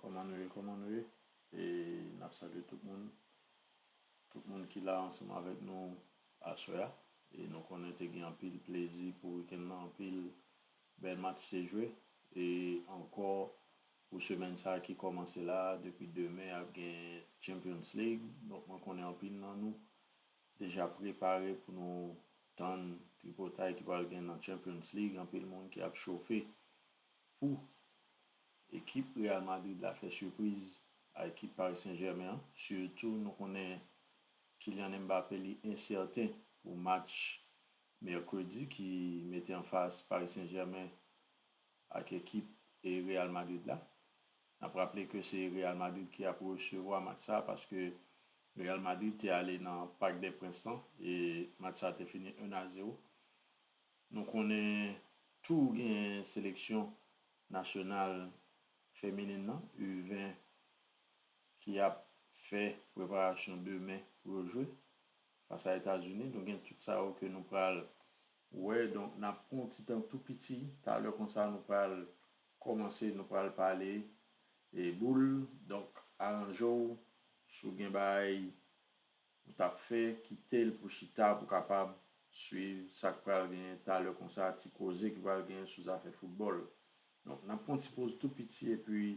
Kòman nou ye kòman nou ye e nap salye tout moun tout moun ki la ansanm avèk nou aswè a e nou konnen te gen anpil plezi pou wikenn nan anpil bèl match te jwe e ankò pou semèn sa ki kòmanse la depi demen ap gen champions league donk mwen konnen anpil nan nou deja prepare pou nou tann tripotay ki pral gen nan Champions League, anpil moun ki ap chofe pou ekip Real Madrid la fè sipriz a ekip Paris Saint Germain an, sitou nou konnen Kylian Mbappé li ensèten pou match mèkredi ki mete anfas Paris Saint Germain ak ekip Real Madrid la. N ap raple ke se Real Madrid ki ap resevwa match sa paske Real Madrid te ale nan Parc des Princes lan e match sa te fini 1 a 0. Nou konnen tou genyen seleksyon nasyonal feminin lan, U 20, ki ap fè preparasyon demen pou yo jwe fas a Etazini. Nou gen tout sa yo ke nou pral Ou wè, donk n ap pran yon ti tan tou piti, talè konsa nou pral kòmanse, nou pral pale boul, donk aranje w si w gen bagay ou t ap fè, kite l pou chita pou w kapab swiv sa k pral genyen talè konsa, ti koze ki pral genyen sou zafè foutbòl. Donk n ap pran yon ti poz tou piti epi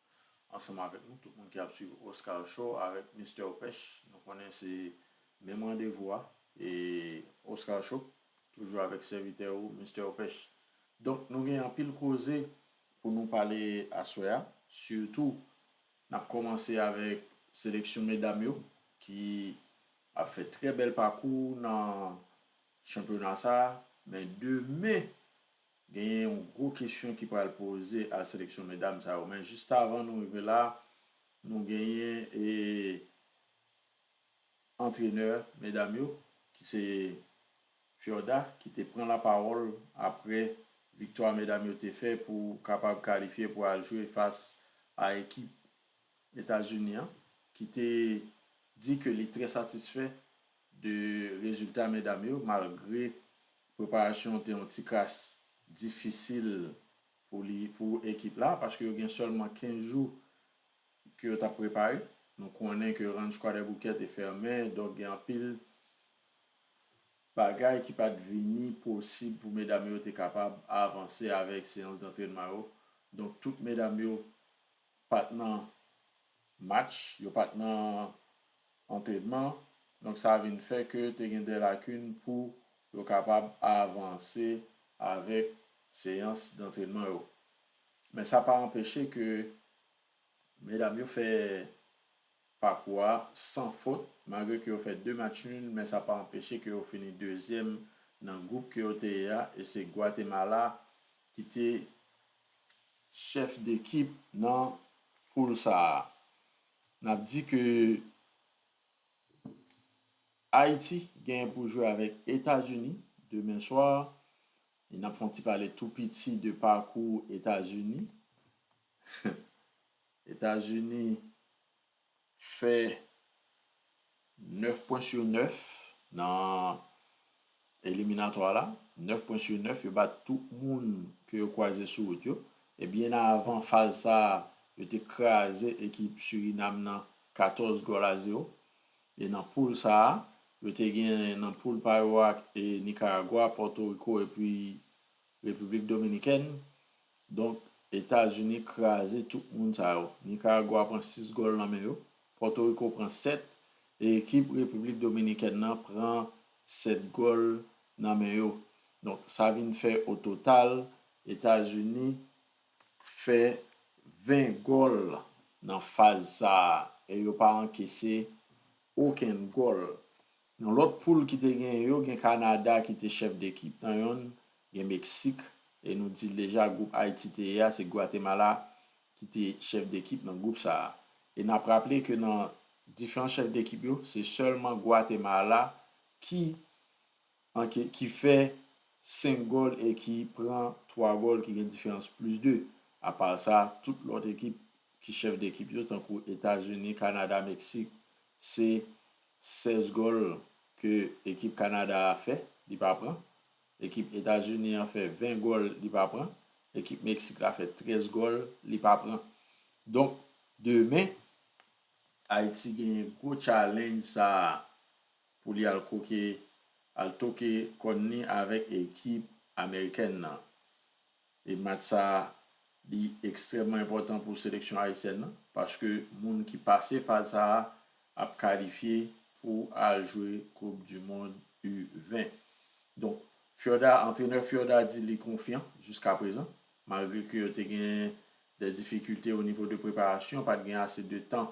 ansanm avèk nou tout moun ki ap swiv Oscar show avèk Mister Opèch nou konnen se menm randevou a e Oscar show toujou avèk sèvitè ou Mister Opèch donk nou gen anpil koze pou nou pale aswè a sitou nap kòmanse avèk seleksyon medam yo ki ap fè trè bèl pakou nan chanpyona sa men demen Genyen yon gwo kesyon ki pral poze a seleksyon medam sa yo men jistavan nou rive la nou genyen e antrenè medam yo ki se Fiorda ki te pran lapawòl aprè viktwa medam yo te fè pou kapab kalifye pou al jwe fas a ekip Etazini an ki te di ke li trè satisfè De rezilta medam yo malgre preparasyon an te yon ti kras difisil pou li pou ekip la paske yo gen sèlman 15 jou ke yo tap prepare nou konnen ke ranch kwadèboukè te fèmen donk gen anpil bagay ki pat vini posib pou medam yo te kapab avanse avèk seyans dantrenman yo donk tout medam yo pat nan match, yo pa t nan antrenman, donk sa vin fè ke te gen dè lakin pou yo kapab avanse avèk seyans dantrenman yo. Men sa pa anpeche ke medam yo fè pakou a san fot, malgre ke yo fè 2 match nul, men sa pa anpeche ke yo fini dezyèm nan gwoup ke yo te ye a, e se Gwatemala ki te chèf dekip nan poul sa a. N ap di ke Ayiti genyen pou jwe avèk Etazini demen swa. E n ap fè yon ti pale tou piti de pakou Etazini. Etazini fè 9 pwen su 9 nan eliminatwa la, 9 pwen su 9 yo bat tout moun ke yo kwaze sou wout yo, e byen avan faz sa a yo te kraze ekip Surinam nan 14 gòl a 0, e nan poul sa a yo te gen nan poul pa yo a Nikaragwa, Pòtoriko epi Repiblik Dominikèn, Donk, Etazini kraze tout moun sa yo. Nikaragwa pran 6 gòl nan men yo, Pòtoriko pran 7 e ekip Repiblik Dominikèn nan pran 7 gòl nan men yo. Donk, sa vin fè o total Etazini fè 20 gòl nan faz sa a e yo pa ankese okenn gòl. Nan lòt poul ki te genyen yo gen Kanada ki te chèf dekip nan yonn, gen Meksik e nou di l deja gwoup Ayiti te ye a se Gwatemala ki te chèf dekip nan gwoup sa a. E n ap raple ke nan diferan chèf dekip yo se sèlman Gwatemala ki anke ki fè 5 gòl e ki pran 3 gòl ki gen diferans plis 2. Apa sa tout lòt ekip ki chèf dekip yo tankou Etazini, Kanada, Meksik Se 16 gòl ke ekip Kanada a fè, li pa pran. Ekip Etazini an fè 20 gòl, li pa pran. Ekip Meksik la fè 13 gòl, li pa pran. Donk, demen, Ayiti genyen gwo tchalenj sa a pou li al koke, al toke kòn li avèk ekip amerikèn nan. E match sa a li ekstrèmman enpòtan pou seleksyon ayisyèn nan paske moun ki pase faz sa a ap kalifye pou al jwe koup du mond u 20. Donk Fiorda antrenè Fiorda di li konfyan jiska prezan malgre ke yo te gen dè difikilte o nivo de preparasyon pat gen ase de tan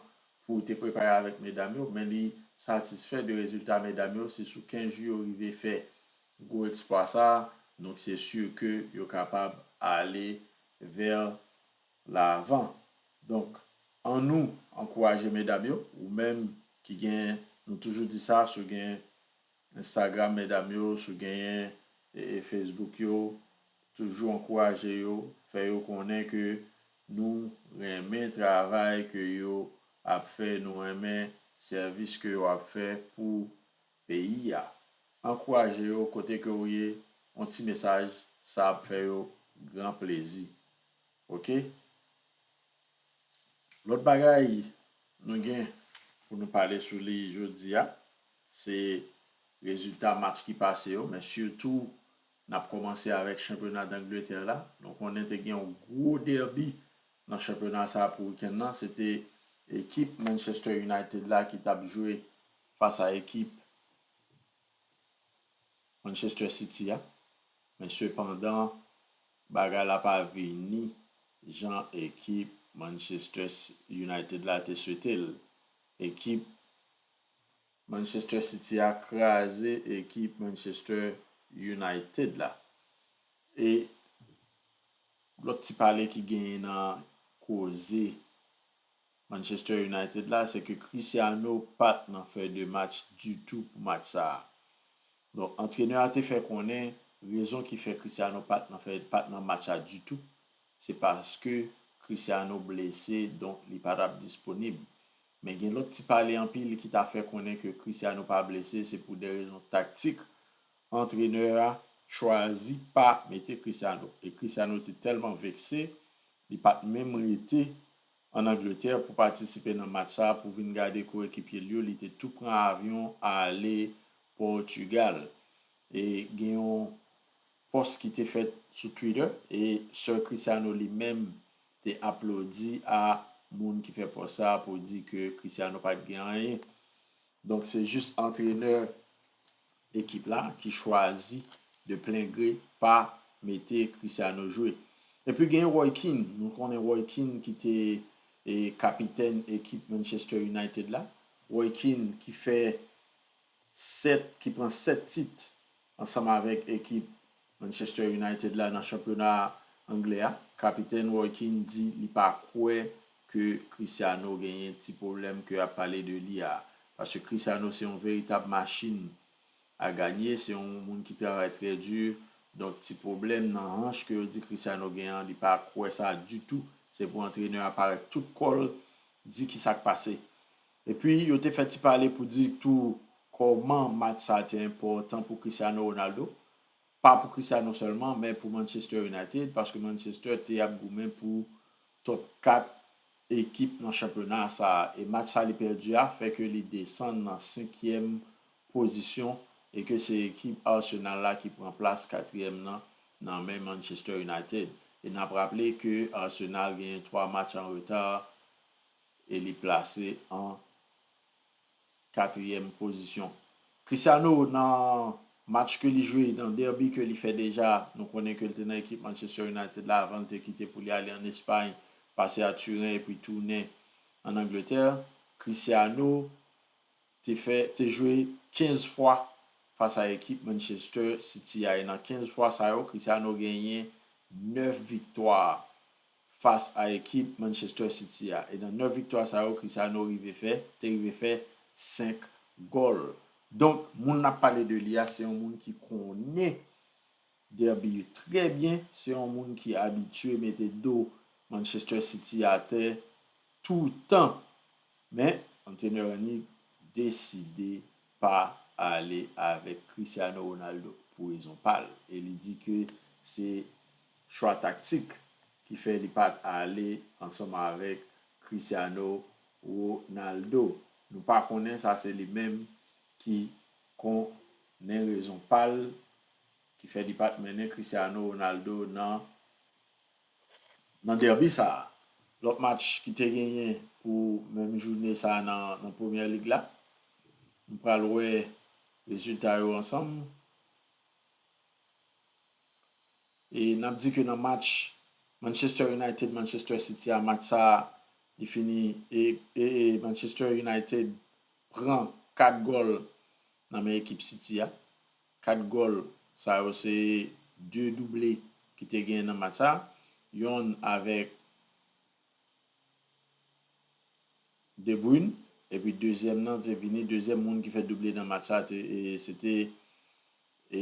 pou te prepare avèk medam yo men li satisfè de rezilta medam yo se sou 15 jou yo rive fè gwo eksplwa sa a, donk se sur ke yo kapab ale vèr lavan. Donk an nou ankouraje medam yo, ou menm ki gen, nou toujou di sa, si w gen Instagram medam yo, si w genyen Facebook yo, toujou ankouraje yo, fè yo konnen ke nou renmen travay ke yo ap fè, nou renmen sèvis ke yo ap fè pou peyi a. Ankouraje yo kote ke ou ye yon ti mesaj sa ap fè yo gran plezi ok. Lòt bagay nou gen pou nou pale sou li jodia se rezilta match ki pase yo men sitou nap kòmanse avèk chanpyona dangletè la nou konnen te gen yon gwo dèbi nan chanpyona sa pou wikenn nan se te ekip Manchester United la ki tap jwe fas a ekip Manchester City a men sepandan bagay la pa vini jan ekip Manchester United la te swete l. Ekip Manchester City a kraze ekip Manchester United la e lòt ti pale ki genyen nan koze Manchester United la se ke Cristiano pat nan fèy de match ditou pou match sa a. Donk antrenè a te fè konnen rezon ki fè Cristiano pat nan fèy pat nan match la ditou se paske Cristiano blese donk li pa tap disponib. Men gen lòt ti pale anpil ki ta fè konnen ke Cristiano pa blese se pou de rezon taktik antrenè a chwazi pa mete Cristiano e Cristiano te tèlman vekse li pat menm rete ann Angletè pou patisipe nan match sa pou vin gade koyekipye l yo, li te tou pran avyon ale Pòtugal. E gen yon pòs ki te fèt sou Twitter e Sir Cristiano li menm te aplodi a moun ki fè pòs sa pou di ke Cristiano pat gen anyen. Donk se jis antrenè ekip la ki chwazi de plen gre pa mete Cristiano jwe. Epi gen Roy Keane, nou konnen Roy Keane ki te kapitèn ekip Manchester United la, Roy Keane ki fè 7, ki pran 7 tit ansanm avèk ekip Manchester United la nan chanpyona anglè a, kapitèn Roy Keane di li pa kwè ke Cristiano genyen ti pwoblèm ke ap pale de li a, paske Cristiano se yon veritab machin a ganye, se yon moun ki travay trè di, donk ti pwoblèm nan hanch ke yo di Cristiano gen an, li pa kwè sa ditou, se pou antrenè a parèt tout kò l di kisa k pase. Epi yo te fè ti pale pou di tou kòman match sa a te enpòtan pou Cristiano Ronaldo, pa pou Cristiano sèlman men pou Manchester United paske Manchester te ap goumen pou top 4 ekip nan chanpyona sa a e match sa li pèdi a fè ke li desann nan senkyèm pozisyon e ke se ekip Arsenal la ki pran plas katriyèm nan nan men Manchester United e n ap raple ke Arsenal genyen 3 match an reta e li plase an katriyèm pozisyon. Cristiano nan match ke li jwe, nan derby ke li fè deja, nou konnen ke li te nan ekip Manchester United la avan li te kite pou li ale an Espay, pase a Turen epi tounen an Angletè, Cristiano te fè, te jwe 15 fwa fas a ekip Manchester City a e nan 15 fwa sa yo Cristiano genyen 9 viktwa. fas a ekip Manchester City a e nan 9 viktwa sa yo Cristiano rive fè te rive fè 5 gòl. Donk moun nap pale de li a se yon moun ki konnen Derby yo trè byen, se yon moun ki abitye mete do Manchester City atè toutan. Men antrenè Rangnick deside pa ale avèk Cristiano Ronaldo pou rezon pa l e li di ke se chwa taktik ki fè li pat ale ansanm avèk Cristiano Ronaldo. Nou pa konnen sa se li menm ki kon nen rezon pal ki fè li pat mennen Cristiano Ronaldo nan nan derby sa. Lòt match ki te genyen pou menm joune sa nan nan Premier League la nou pral wè rezilta yo ansanm. E n ap di ke nan match Manchester United, Manchester City a, match sa a li fini e e Manchester United pran 4 gòl nan men ekip City a. 4 gòl sa yo se 2 double ki te genyen nan match sa a. Yonn avèk De Bruyne epi dezyèm nan te vini, dezyèm moun ki fè double nan match sa a te e se te e.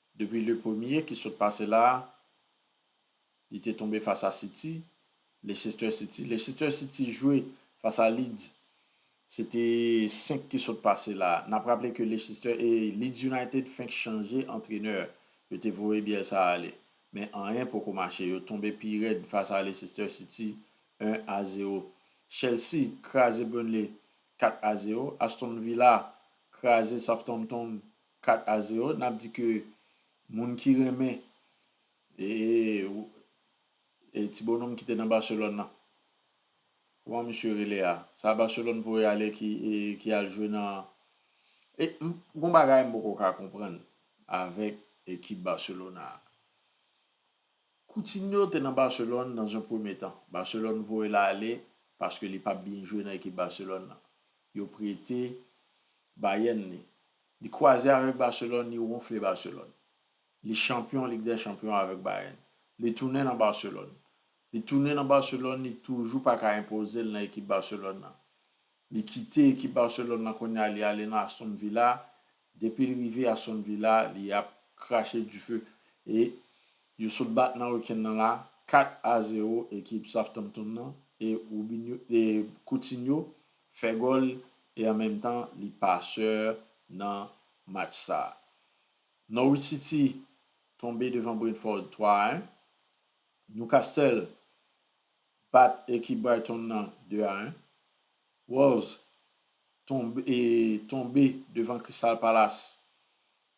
Depi le premye ki sot pase la a, li te tonbe fas a City, Leicester City. Leicester City jwe fas a Leeds, se te 5 ki sot pase la a. N ap raple ke Leicester e Leeds United fenk chanje antrenè, yo te voye Bielsa ale. Men anyen poko mache, yo tonbe pi rèd fas a Leicester City 1 a 0. Chelsea kraze Burnley 4 a 0. Aston Villa kraze Southampton 4 a 0 nap di ke moun ki renmen e ti bononm ki te nan Barcelone nan kouman misye rele a sa Barcelone voye ale ki al jwe nan gon bagay m poko ka konprann avèk ekip Barcelona a Coutinho te nan Barcelone dans un premier temps Barcelone voye l ale paske li pap byen jwe nan ekip Barcelone nan yo prete Bayern li Li kwaze avèk Barcelone, li wonfle Barcelone. Li chanpyon Lig dè Chanpyon avèk Bayern. Li tounen nan Barcelone. Li tounen nan Barcelone, li toujou pa ka enpoze l nan ekip Barcelone nan. Li kite ekip Barcelone nan kounye a li ale nan Aston Villa, depi l rive Aston Villa li ap krache dife e yo sot bat nan wikenn nan la 4 a 0 ekip Southampton nan e Robinho e Coutinho fè gòl e an menm tan li pasè nan match sa. Norwich City tonbe devan Brentford 3 a 1. Newcastle bat ekip Brighton nan 2 a 1. Wolves tonbe devan Crystal Palace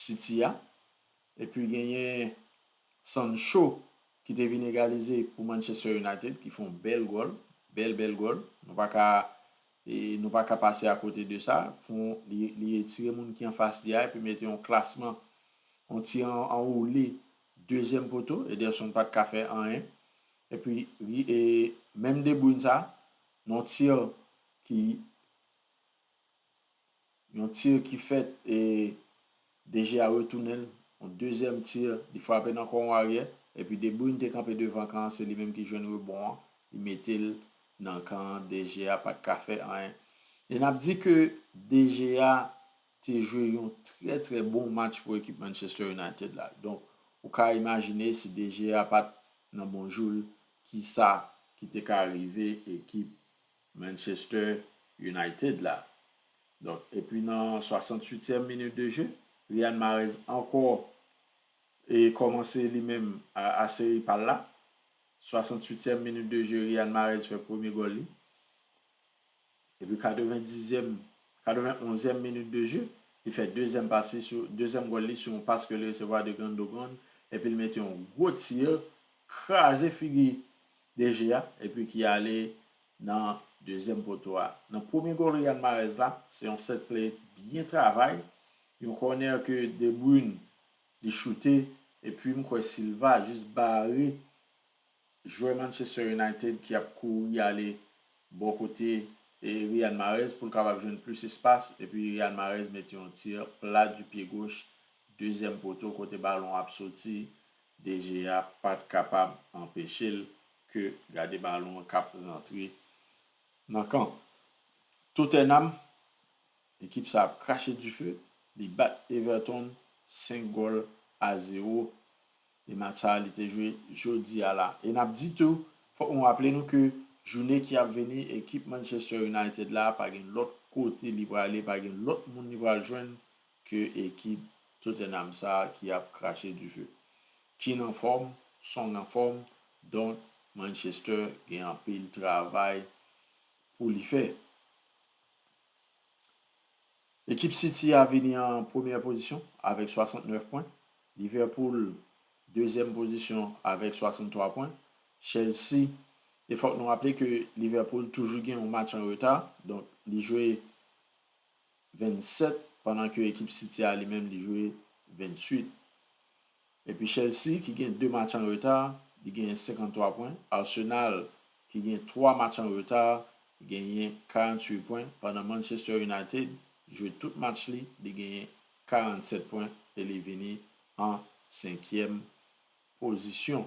City a, epi genyen Sancho ki te vin egalize pou Manchester United ki fon bèl gòl, bèl bèl gòl, nou pa ka nou pa ka pase a kote de sa, fon li etire moun ki anfas li a epi mete yon klasman, yon ti anwoule dezyèm poto, Ederson pat ka fè anyen, epi menm De Bruyne sa, yon tir ki. Yon tir ki fèt e De Gea retounen l, yon dezyèm tir, li frape nan kò yon aryè, epi De Bruyne te kanpe devan kan an se li menm ki jwenn rebon an, li mete l nan kan an, De Gea pat ka fè anyen. E nap di ke De Gea te jwe yon trè trè bon match pou ekip Manchester United la. Donk ou ka imajine si De Gea pat nan bon jou l, kisa ki te ka rive ekip Manchester United la. Donk epi nan 68 tièm minit de je, Riyad Mahrez ankò e kòmanse li menm a seri pal la. 68 tièm minit de je Riyad Mahrez fè premye gòl li. Epi 90 zièm, 91 zièm minit de je, li fè dezièm pas li sou, dezièm gòl li sou yon pas ke li resevwa de Gundogan epi li mete yon gwo tir, kraze figi DG a epi ki ale nan dezyèm poto a. Nan premye gòl Riyad Mahrez la, se yon sèt ple byen travay, yon kònè ke De Bruyne li choute epi m kwè Silva jis bare jwè Manchester United ki ap kouri ale bò kote Riyad Mahrez pou l kapab jwenn plis espas epi Riyad Mahrez mete yon tir plat du pied gauche dezyèm poto kote balon ap soti DG a pat kapab anpeche l ke gade balon an kap rantre nan kan Tottenham. Ekip sa ap krache dife, li bat Everton 5 gòl a 0 e match sa li te jwe jodi a la. E nap di tou, fòk nou raple nou ke joune ki ap vini ekip Manchester United la pa gen lòt kote li prale, pa gen lòt moun li pral jwenn ke ekip Tottenham sa ki ap krache dife. Keane anfòm, Song anfòm, donk Manchester gen anpil travay pou li fè. Ekip City a vini an premyè pozisyon avèk 69 pwen, Liverpool dezyèm pozisyon avèk 63 pwen, Chelsea, e fòk nou raple ke Liverpool toujou gen yon match an reta, donk li jwe 27 pandan ke ekip City a li menm li jwe 28. Epi Chelsea ki gen 2 match an reta li genyen 53 pwen, Arsenal ki gen 3 match an reta genyen 48 pwen pandan Manchester United jwe tout match li, li genyen 47 pwen e li vini an senkyèm pozisyon.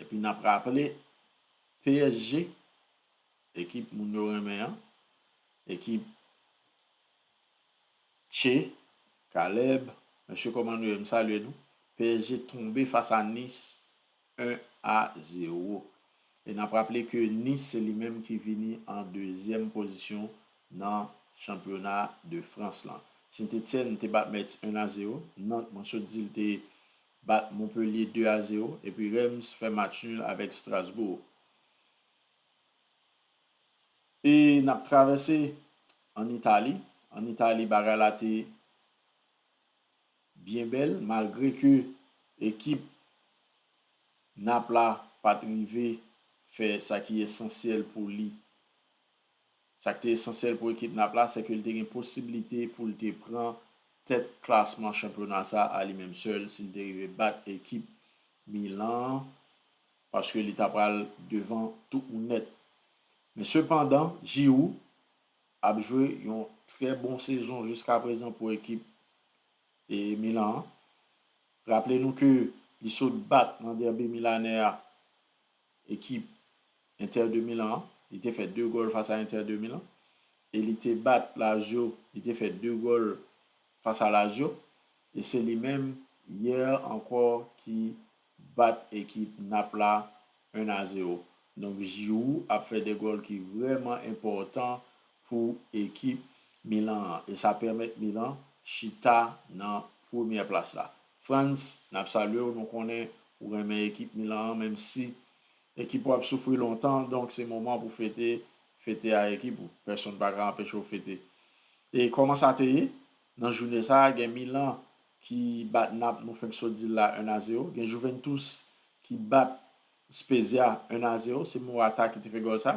Epi nap raple psg ekip moun yo renmen an, ekip Tchee, Caleb, mesye kòman nou ye m salye nou, psg tonbe fas a Nice 1 a 0. E nap raple ke Nice se li menm ki vini an dezyèm pozisyon nan chanpyona de Frans lan. Sint Etienne te bat Metz 1 a 0, Nantes mwen sot di l te bat Montpellier 2 a 0 epi Reims fè match nul avèk Strasbourg. E n ap travèse an Itali, an Itali bagay la te byen bèl malgre ke ekip Naples la pa t rive fè sa ki esansyèl pou li. Sa k te esansyèl pou ekip nap la sèke l te gen posiblite pou l te pran tèt klasman chanpyona sa a li menm sèl si l te rive bat ekip Milan an paske li ta pral devan tout moun nèt. Men sepandan Giroud ap jwe yon trè bon sezon jiskaprezan pou ekip Milan an. Raple nou ke li sot bat nan dèbi milanè a ekip Inter de Milan an, li te fè 2 gòl fas a Inter de Milan e li te bat Lazio, li te fè 2 gòl fas a Lazio e se li menm yè ankò ki bat ekip Nap la 1 a 0. Donk Giroud ap fè 2 gòl ki vrèman enpòtan pou ekip Milan an e sa pèmèt Milan chita nan premyè plas la. Frantz nap salyew nou konnen ou renmen ekip Milan an menm si ekip ou ap soufri lontan donk se moman pou fete fete a ekip ou pèsonn paka anpechew fete e kòman sa te ye nan joune sa gen Milan ki bat Nap nou fenk sot dil la 1 a 0 gen Juventus ki bat Spezia 1 a 0 se Morata ki te fè gòl sa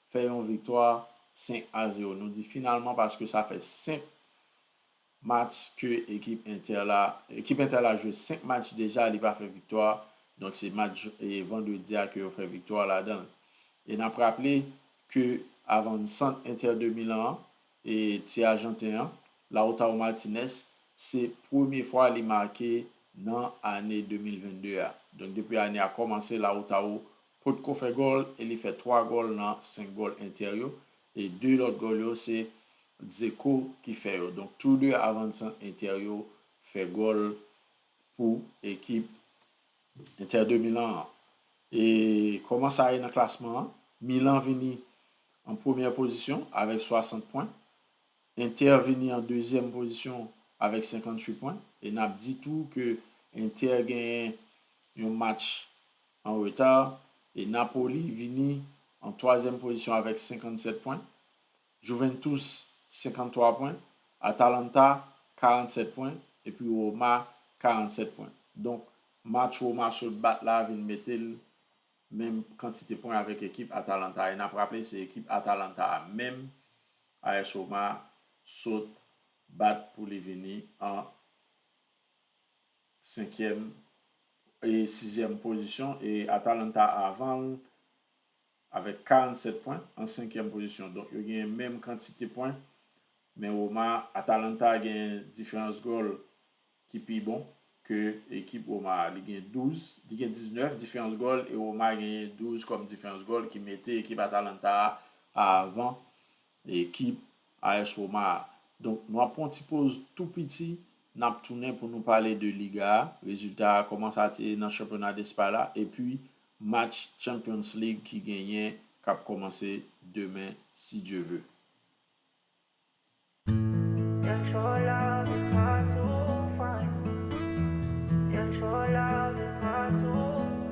fè yon viktwa 5 a 0. Nou di finalman paske sa fè 5 match ke ekip Inter la, ekip Inter la jwe 5 match deja li pa fè viktwa, donk se match vandredi a ke yo fè viktwa ladan. E nap raple ke avansant Inter de Milan an, ti ajanten an, Lautaro Martinez, se premye fwa li make nan ane 2022 a. Donk depi ane a kòmanse Lautaro potko fè gòl e li fè 3 gòl nan 5 gòl Inter yo e 2 lòt gòl yo se Dzeko ki fè yo donk tou 2 avan sant Inter yo fè gòl pou ekip Inter de Milan an. E kòman sa ye nan klasman an, Milan vini an premyè pozisyon avèk 60 pwen, Inter vini an dezyèm pozisyon avèk 58 pwen e nap di tou ke Inter genyen yon match an reta e Napoli vini an twazyèm pozisyon avèk 57 pwen, Juventus 53 pwen, Atalanta 47 pwen epi Roma 47 pwen. Donk match Roma sot bat la vin mete l menm kantite pwen avèk ekip Atalanta e n ap raple se ekip Atalanta a menm AS Roma sot bat pou li vini an senkyèm e sizyèm pozisyon e Atalanta avan l avèk 47 pwen an senkyèm pozisyon donk yo genyen menm kantite pwen men Roma Atalanta genyen diferans gòl ki pi bon ke ekip Roma a li gen 12 li gen 19 diferans gòl e Roma genyen 12 kòm diferans gòl ki mete ekip Atalanta a avan Ekip AS Roma a. Donk nou ap pran yon ti poz tou piti, n ap tounen pou nou pale de Liga a, rezilta a, kòman sa te ye nan chanpyona Despay la, epi match Champions League ki genyen, k ap kòmanse demen si Dye ve.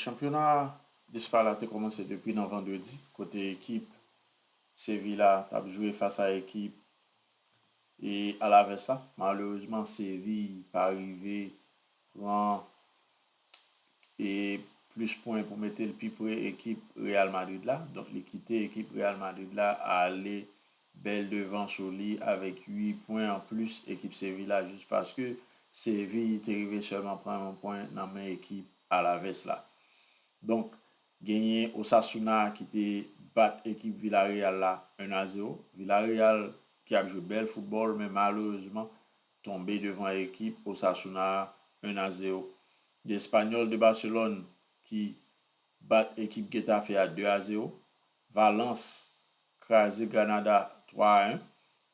Chanpyona Despa la te kòmanse depi nan vandredi kote ekip Sevilla t ap jwe fas a ekip Alaves la. Malerezman Seville pa rive pran plis pwen pou mete l pi pre ekip Real Madrid la. Donk li kite ekip Real Madrid la ale Bèl devans ou li avèk 8 pwen an plis ekip Seville la jis paske Seville te rive sèlman pran yon pwen nan men ekip Alaves la. Donk genyen Osasuna ki te bat ekip Villarreal la 1 a 0. Villarreal ki ap jwe bèl foutbòl men malerezman tonbe devan ekip Osasuna 1 a 0. Gen Espanyòl de Barcelone ki bat ekip Getafe a 2 a 0. Valence kraze Granada 3 a 1.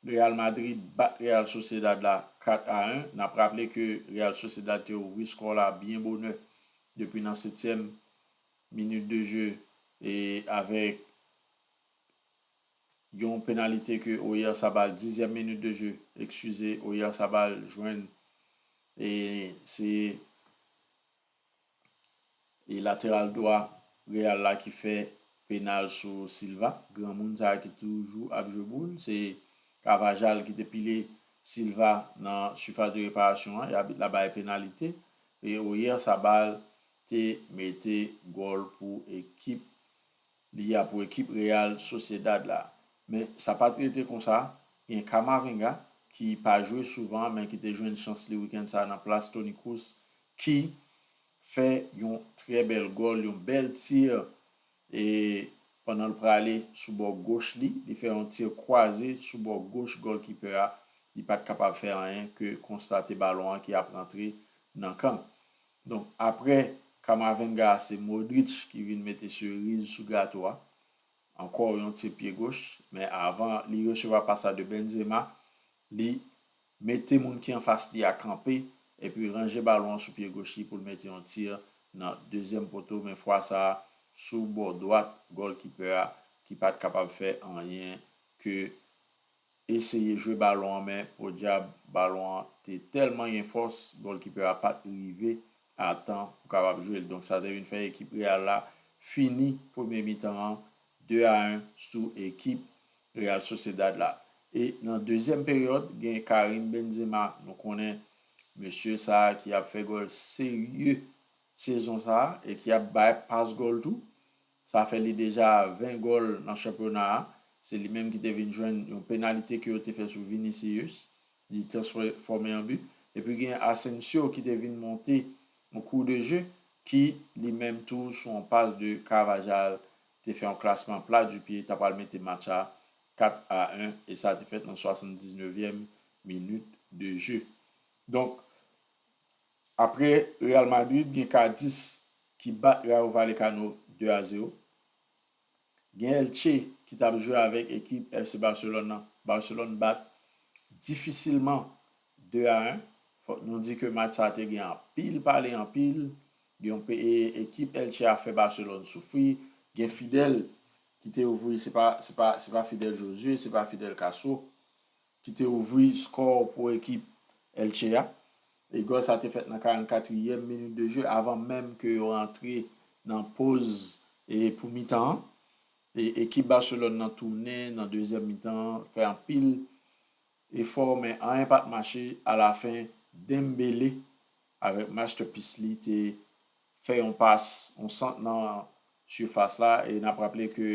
Real Madrid bat Real Sociedad la 4 a 1. N ap raple ke Real Sociedad te ouvri skò la byen bonè depi nan setyèm minit de je e avèk yon penalite ke Oyarzabal, dizyèm minit de je, ekskize, Oyarzabal jwenn e se E lateral dwa real la ki fè penal sou silva granmoun sa ki toujou ap jwe boul se cavajal ki te pile silva nan sifas de reparasyon an e abit la bay penalite e oyer sabal te mete gòl pou ekip Li a pou ekip Real Sociedad la. Men sa pat rete konsa, gen Camavinga ki pa jwe souvan men ki te jwenn chans li wikenn sa nan plas Toni Kroos ki fè yon trè bèl gòl, yon bèl tir e pandan l prale sou bò goch li, li fè yon tir kwaze sou bò goch gòlkipè a, li pat kapab fè anyen ke konstate balon an ki ap rantre nan kan. Donk aprè Camavinga a se Modric ki vin mete seriz sou gato a, ankò yon tir pye goch, men avan li resevwa pas la de Benzema, li mete moun ki anfas li a kanpe epi ranje balon an sou pye goch li pou l mete yon tir nan dezyèm poto men fwa sa a sou bò dwat gòlkipè a ki pat kapab fè anyen ke eseye jwe balon an men podyab balon an te tèlman gen fòs gòlkipè a pat rive a tan pou kapab jwe l donk sa te vin fè ekip Real la fini premye mitan an 2 a 1 sou ekip Real Sociedad la e nan dezyèm peryòd gen Karim Benzema nou konnen mesye sa ki ap fè gòl serye sezon sa e ki ap bay pas gòl tou. Sa fè li deja 20 gòl nan chanpyona a. Se li menm ki te vin jwenn yon penalite ke yo te fè sou Vinicius, li transfòme an but. Epi gen Asensio ki te vin monte an cours de jeu ki li menm tou sou yon pas de Carvajal te fè yon klasman plat du pied, ta pral mete match a 4 a 1 e sa te fèt nan 79 yèm minit de jeu. Donk Apre Real Madrid gen Cadiz ki bat Rayo Vallecano 2 a 0. Gen Elche ki tap jwe avèk ekip FC Barcelone nan. Barcelone bat difisilman 2 a 1. Fòk nou di ke match sa te gen anpil pale anpil. Gen yon pe ekip Elche a fè Barcelone soufri. Gen Fidel ki te ouvri se pa se pa se pa Fidel Josue se pa Fidel Castro ki te ouvri skò pou ekip Elche a e gòl sa te fèt nan 44 ièm minit de jeu avan menm ke yo rantre nan poz e pou mitan an e ekip Barcelone nan tounen nan dezyèm mitan an fè anpil efò men anyen pat mache alafen Dembele avèk masterpiece li te fè yon pas yon sant nan sifas la e n ap raple ke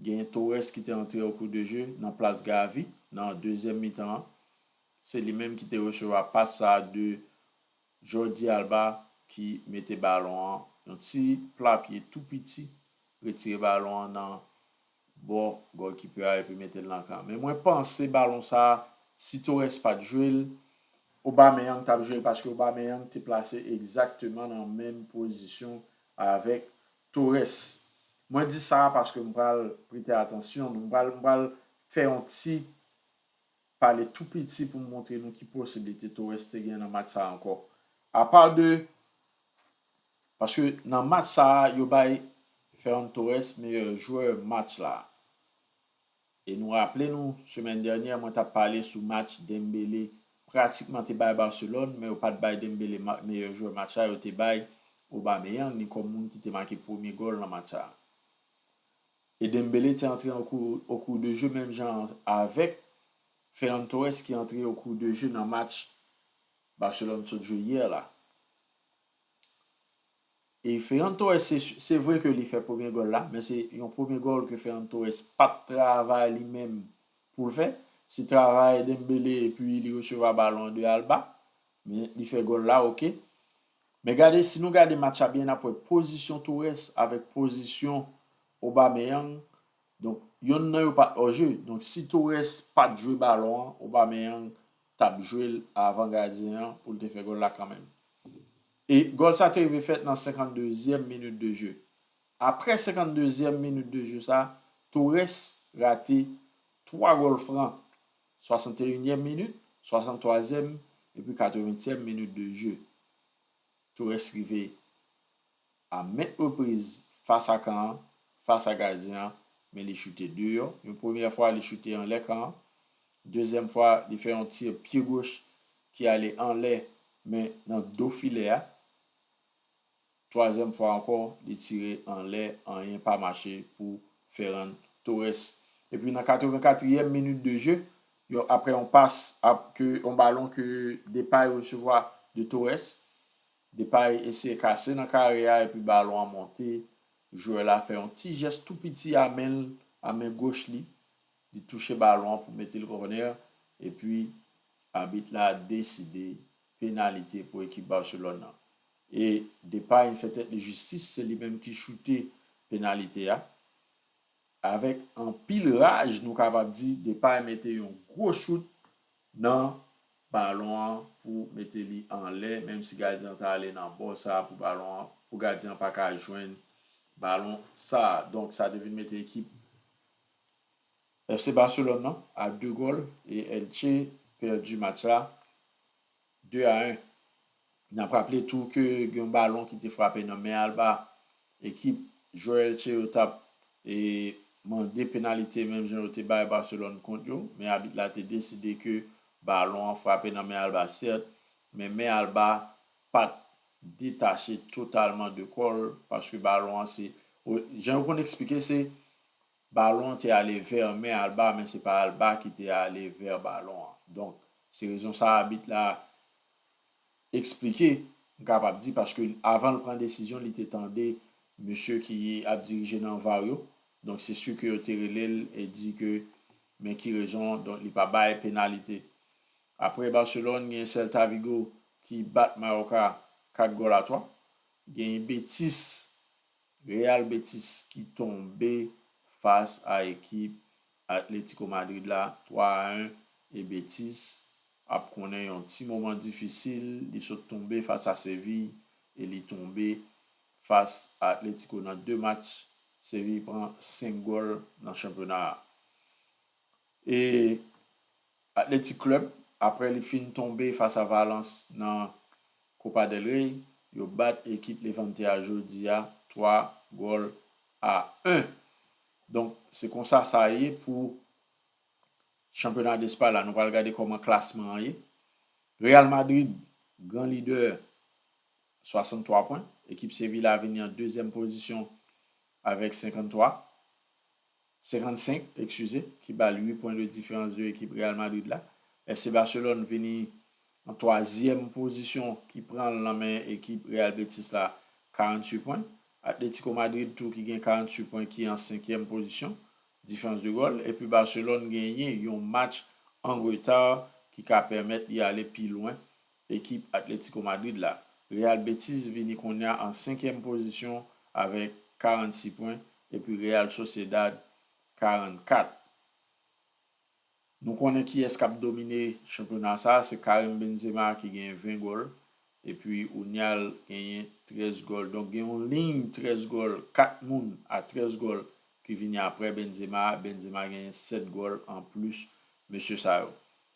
gen Torres ki te antre okou de je nan plas Gavi nan dezyèm mitan an se li menm ki te resevwa pas sa de Jordi Alba ki mete balon an yon ti pla pye tou piti retire balon an nan Bo golkipe a epi mete l nan kan. Men mwen panse balon sa si Torres pat jwe l, Aubameyang tap jwe l paske Aubameyang te plase egzakteman nan menm pozisyon avèk Torres. Mwen di sa paske m pral prete atansyon nou, m pral m pral fè yon ti pale tou piti pou m montre nou ki posiblite Torres te gen nan match sa ankò. Apa de Paske nan match sa yo bay Ferran Torres meyè jwè match la. E nou raple nou semèn dènyè mwen tap pale sou match Dembele pratikman te bay Barcelone men yo pat bay Dembele meyè jwè match la yo te bay Aubameyang ni kòm moun ki te make premye gòl nan match sa. E Dembele te antre au cours de jeu menm jan avèk Ferran Torres ki antre au cours de jeu nan match Barcelone sot jwe yè la. E Ferran Torres se se vre ke li fè premye gòl la, men se yon premye gòl ke Ferran Torres pat travay li menm pou l fè. Se travay Dembele epi li resevwa balon an de Alba, men li fè gòl la ok. Men gade, si nou gade match la byen nap wè pozisyon Torres avèk pozisyon Aubameyang, donk yonn nan yo pat òje. Donk si Torres pat jwe balon an, Aubameyang tap jwel avan gadyen an poul te fè gòl la kanmenm. E gòl sa te rive fèt nan 52 zièm minit de je. Aprè 52 zièm minit de je sa, Torres rate 3 gòl fran, 61 nyèm minit, 63 zièm epi 80 tièm minit de je. Torres rive. a ment repriz fas a kan an, fas a gadyen an, men li choute deyò. Yon premyè fwa, li choute anlè kan an. Dezyèm fwa, li fè yon tir pye goch ki ale anlè, men nan do filè a. Twazyèm fwa ankò, li tire anlè, anyen pa mache pou Ferran Torres. Epi nan 84 ièm minit de je, yon aprè yon pas, yon balon ke Depay resevwa de Torres, Depay eseye kase nan kare a epi balon an monte, jwè la fè yon ti jès tou piti a men l, a men goch li, li touche balon an pou mete l kònè, epi abit la deside penalite pou ekip Barcelone nan. E Depay fè tèt li jistis, se li menm ki choute penalite a. Avèk anpil raj nou kapab di Depay mete yon gwo chout nan balon an pou mete li anlè menm si gadyen an ta ale nan bò sa pou balon an pou gadyen an pa ka jwenn balon sa donk sa te vin mete ekip FC Barcelone nan a 2 gòl e Elche pèdi match la 2 a 1. N ap raple tou ke gen yon balon ki te frape nan men Alba. Ekip Joelce yo t ap mande penalite menm jan yo te bay Barcelone kont yo, men abit la te deside ke balon an frape nan men Alba sèt, men men Alba pa t detache totalman de kò l paske balon an se, jan yo konn eksplike se Balon an te ale vè men Alba men se pa Alba ki te ale vè balon an. Donk, se rezon sa abit la esplike, m kapab di, paske avan l pran desizyon li te tande mesye ki ap dirije nan var yo. Donk, se si ke yo te rele l e di ke men ki rezon donk li pa bay penalite. Aprè Barcelone, gen Celta Vigo ki bat Mallorca 4 gòl a 3. Gen Betis Real Betis ki tonbe fas a ekip Atletico Madrid la 3 a 1 e Betis ap konnen yon ti moman difisil, li sot tonbe fas a Seville e li tonbe fas a Atletico nan 2 match, Seville pran 5 gòl nan chanpyona a. E Athletic Club aprè li fin tonbe fas a Valence nan Copa del Rey, yo bat ekip Levante a jodi a 3 gòl a 1. Donk se konsa sa ye pou chanpyona Despay la. Nou pral gade kòman klasman an ye. Real Madrid gran lidè 63 pwen. Ekip Sevilla vini an dezyèm pozisyon avèk 53. 55 ekskize, ki ba l 8 pwen de diferans de ekip Real Madrid la. FC Barcelone vini an twazyèm pozisyon ki pran l nan men ekip Real Betis la 48 pwen. Atletico Madrid tou ki gen 48 pwen ki an senkyèm pozisyon diferans de gòl. Epi Barcelone genyen yon match an reta ki ka pèmèt li ale pi lwen Ekip Atlético Madrid la, Real Betis vini konnya an senkyèm pozisyon avèk 46 pwen epi Real Sociedad 44. Nou konnen kiyès k ap domine chanpyona sa, se Karim Benzema ki genyen 20 gòl epi Unial genyen 13 gòl. Donk gen yon liy 13 gòl, 4 moun a 13 gòl ki vini aprè Benzema a. Benzema genyen 7 gòl anplis mesye sa yo.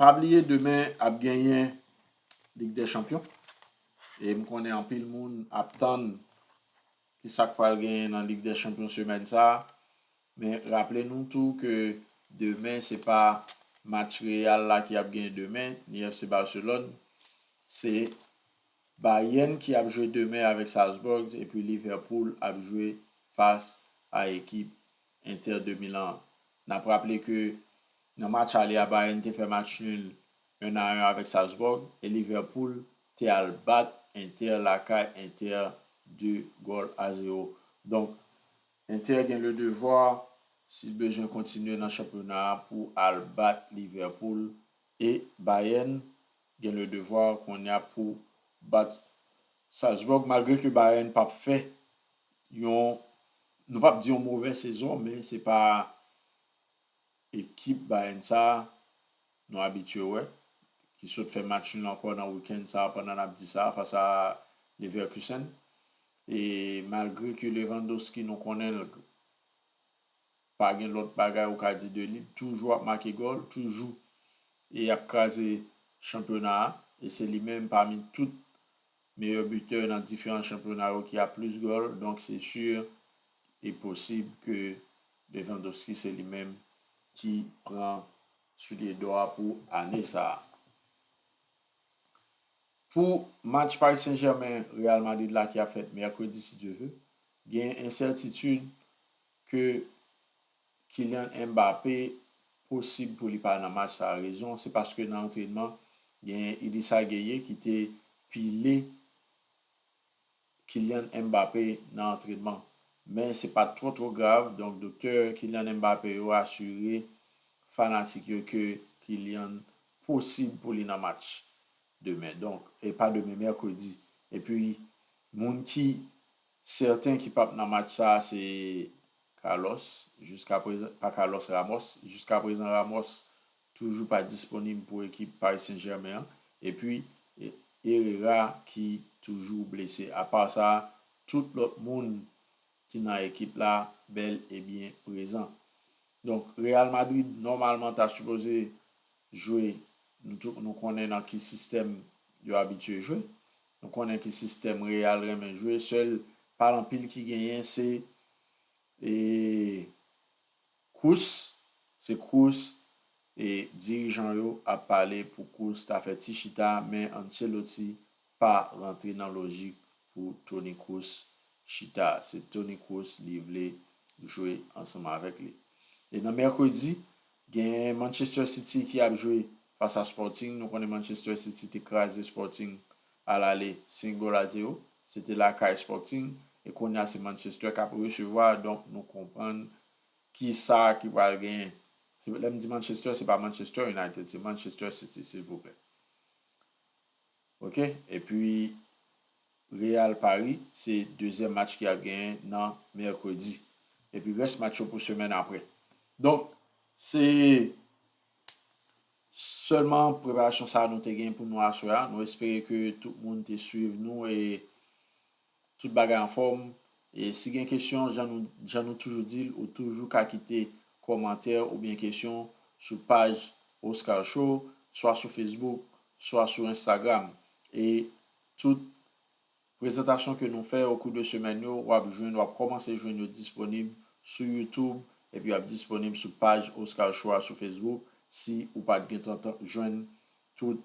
Pa bliye demen ap genyen Ligue des champions e m konnen anpil moun ap tann ki sa k pral genyen nan Ligue des champions semèn sa a. Men raple nou tou ke demen se pa match Real la ki ap genyen demen ni FC Barcelone. Se Bayern ki ap jwe demen avèk Salzburg epi Liverpool ap jwe fas a ekip Inter de Milan. N ap raple ke nan match ale a Bayern te fè match nul 1 a 1 avèk Salzbourg e Liverpool te al bat Inter lakay Inter 2 gòl a 0. Donk Inter gen le devoir si l bezwen kontinye nan chanpyona a pou al bat Liverpool e Bayern gen le devoir kounye a pou bat Salzbourg malgre ke Bayern p ap fè yon nou pap di yon movè sezon men se pa ekip Bayern sa nou abitye wè ki sot fè match nul ankò nan weekend sa pandan nap di sa fas a Leverkusen e malgre ke Lewandowski nou konnen l pa gen lòt bagay ou ka di de li, li toujou ap make gòl, toujou e ap kraze chanpyona a e se li menm pami tout Meyè butè nan diferan chanpyona yo ki a plis gòl donk se sur e posib ke Lewandowski se li menm ki pran soulye dò a pou ane sa a. Pou match Paris Saint Germain Real Madrid la ki ap fèt mèkredi si Dye ve, gen ensètitid ke Kylian Mbappé posib pou li pa nan match sa a rezon se paske nan antrenman genyen Idrissa Gueye ki te pile Kylian Mbappé nan antrenman men se pat twò twò grav donk doktè Kylian Mbappé yo asire fanatik yo ke Kylian posib pou li nan match demen donk e pa demen mèkredi epi moun ki Sèten ki pap nan match sa a se Carlos jiska prezan pa Carlos Ramos jiska prezan Ramos toujou pa disponib pou ekip Paris Saint Germain an epi Herrera ki toujou blese apa sa tout lòt moun ki nan ekip la bèl e byen prezan donk Real Madrid nòmalman ta sipoze jwe nou tout nou konnen nan ki sistèm yo abitye jwe Nou konnen ki sistèm real renmen jwe sèl pa anpil ki genyen se e Cruz se Cruz e dirijan yo ap pale pou Cruz ta fè ti chita men Ancelotti pa rantre nan lojik pou Toni Cruz chita se Toni Cruz li vle jwe ansanm avèk li e nan mèkredi Gen Manchester City ki ap jwe fas a Sporting. Nou konnen Manchester City te kraze Sporting a lale 5 gòl a 0. Se te lakay Sporting. E kounye a se Manchester k ap resevwa. Donk nou konprann ki sa ki pral genyen. Lè m di Manchester, se pa Manchester United. Se Manchester City silvouplè. Ok epi Real Paris se dezyèm match ki ap genyen nan mèkredi epi rès match yo pou semèn aprè donk se sèlman preparasyon sa nou te genyen pou nou aswè a nou espere ke tout moun te swiv nou e Tout bagay anfòm, e si gen kesyon jan nou jan nou toujou di l ou toujou ka kite kòmantè oubyen kesyon sou paj Oscar Show swa sou Facebook swa sou Instagram e tout Prezantasyon ke nou fè okou de semèn yo wap jwenn wap kòmanse jwenn yo disponib sou YouTube epi yap disponib sou paj Oscar Show a sou Facebook si ou pat gentan jwenn tout